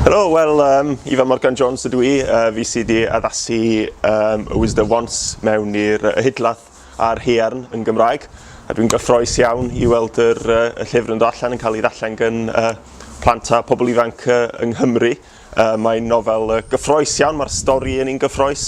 Helo, wel, um, Ifa Morgan Jones ydw i, uh, fi sydd wedi addasu um, y Wisda Wants mewn i'r uh, hydlath a'r hearn yn Gymraeg. A dwi'n gyffroes iawn i weld yr, uh, y llyfr yn dod allan yn cael ei ddallen gan uh, plant a pobl ifanc uh, yng Nghymru. Mae'n nofel gyffroes iawn, mae'r stori yn un gyffroes,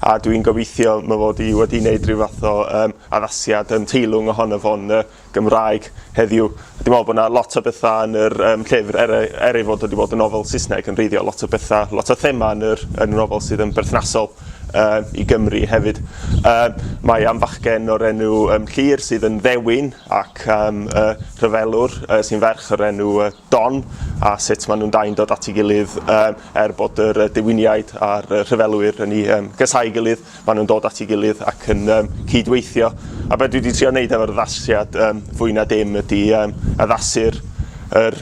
a dwi'n gobeithio my fod i wedi wneud rhyw fath o um, addasiad yn teilwng ohono fo'n uh, Gymraeg heddiw. Dwi'n meddwl bod yna lot o bethau yn yr um, llyfr, er, er ei fod wedi bod yn nofel Saesneg yn reiddiol, lot o bethau, lot o thema yn yr, yn y nofel sydd yn berthnasol um, i Gymru hefyd. Um, mae am fachgen o'r enw um, Llyr sydd yn ddewin ac um, uh, rhyfelwr uh, sy'n ferch o'r enw uh, Don, a sut maen nhw'n dau'n dod at ei gilydd, er bod yr dewiniaid a'r rhyfelwyr yn ei gasáu'i gilydd, maen nhw'n dod at ei gilydd ac yn cyd-weithio. A be dwi wedi trio wneud efo'r addasiad fwy na dim ydy addasu'r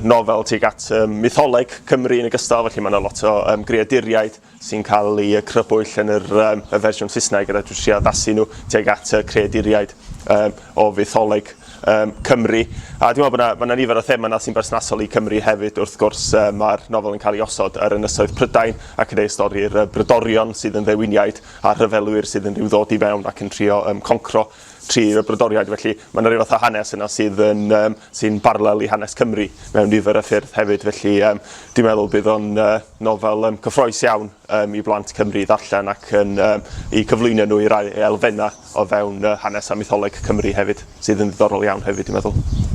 nofel tuag at mytholeg Cymru yn ogystal, felly mae yna lot o greaduriaid sy'n cael eu crybwyll yn yr, um, y fersiwn Saesneg yr edrych trio addasu nhw tuag at y creaduriaid um, o fytholeg um, Cymru. A dwi'n meddwl bod yna ma nifer o thema yna sy'n bersnasol i Cymru hefyd. Wrth gwrs, uh, mae'r nofel yn cael ei osod ar ynysoedd Prydain ac yn ei stori'r uh, brydorion sydd yn ddewiniaid a'r rhyfelwyr sydd yn rhyw ddod i fewn ac yn trio um, concro Tri o brodoriaid felly. Mae 'na ryw fath o hanes yna sydd yn yym sy'n barlel i hanes Cymru mewn nifer o ffyrdd hefyd felly yym dwi'n meddwl bydd o'n yy nofel yym cyffrous iawn yym i blant Cymru i ddarllen ac yn yym i cyflwyno nhw i rai elfennau o fewn yy hanes a mytholeg Cymru hefyd sydd yn ddiddorol iawn hefyd dwi'n meddwl.